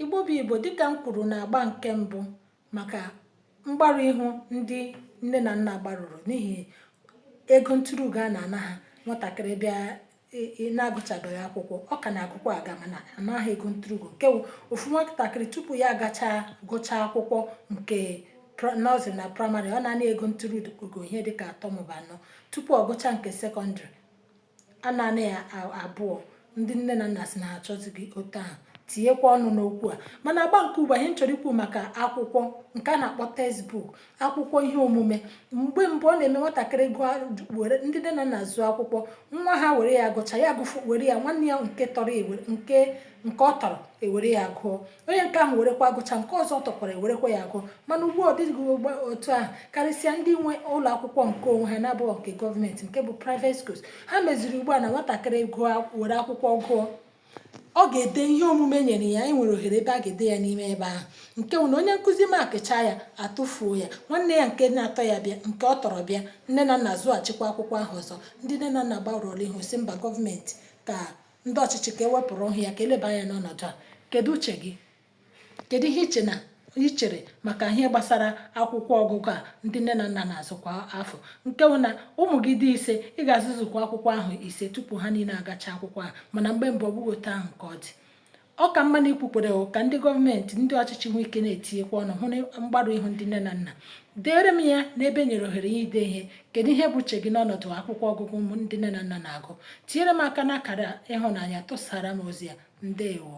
igbo bụ igbo dịka m kwuru na agba nke mbụ maka mgbarụ ihu ndị nne na nna gbarụrụ n'ihi ego nturuugo a na-ana ha nwatakịrị bịa na-agụchabeghị akwụkwọ ọ ka na-agụkwa a ga na-ana gị ego nturuugo nke ofu nwatakịrị tupu ya agachaa gụchaa akwụkwọ nke nọsịrị na praịmarị ọ na-ana ego nturuugo ihe dịka atọ maọbụ anọ tupu ọ gụchaa nke sekọndịrị A na-ana ya abụọ ndị nne na nna sị na ha achọzighị otu ahụ tinyekwa ọnụ n'okwu a mana agba nke ugbu a ihe m chọrọ ikwu maka akwụkwọ nke a na-akpọ textbook akwụkwọ ihe omume mgbe mbụ ọ na-eme nwatakịrị gụọ were ndị nne na nna zụọ akwụkwọ nwa ha were ya gụcha ya gụfụ were ya nwanne ya nke tọrọ nke nke ọ tọrọ ewere ya gụọ onye nke ahụ werekwa agụcha nke ọzọ tọkwara ewerekwa ya agụ mana ugbu a ọ bụghị otu ahụ karịsịa ndị nwe ụlọ akwụkwọ nke onwe ha na-abụghị nke gọọmenti nke bụ private schools ha meziri ugbu a na nwatakịrị gụọ were akwụkwọ gụọ ọ ga-ede ihe omume e nyere ya e nwere ohere ebe a ga-ede ya n'ime ebe ahụ nke bụ na onye nkụzi makịcha ya atụfuo ya nwanne ya nke na-atọ ya bịa nke ọ tọrọ bịa nne na nna zụghachikwa akwụkwọ ahụ ọzọ ndị nne na nna gbarụọla ihu sị mba gọọmenti ka ndị ọchịchị ka e wepụrụ ha ya ka e leba anya n'ọnọdụ a kedu uche gị kedu ihe iche na i chere maka ihe gbasara akwụkwọ ọgụgụ a ndị nne na nna na-azụ kwa afọ nke bụ na ụmụ gị dị ise ị ga-azụzukwa akwụkwọ ahụ ise tupu ha niile agacha akwụkwọ ahụ mana mgbe mbụ ọ bụghị otu ahụ ka ọ dị Ọ ka mma na i kwekwara ka ndị gọọmenti ndị ọchịchị nwee ike na-etinyekwa ọnụ hụ na mgbarụ ihu ndị nne na nna deere m ya n'ebe e nyere ohere a ide ihe kedu ihe bụ uche gị n'ọnọdụ akwụkwọ ọgụgụ ụmụ ndị nne na nna na-agụ tinyere m aka n'akara ịhụnanya tụsara m ozi a ndewo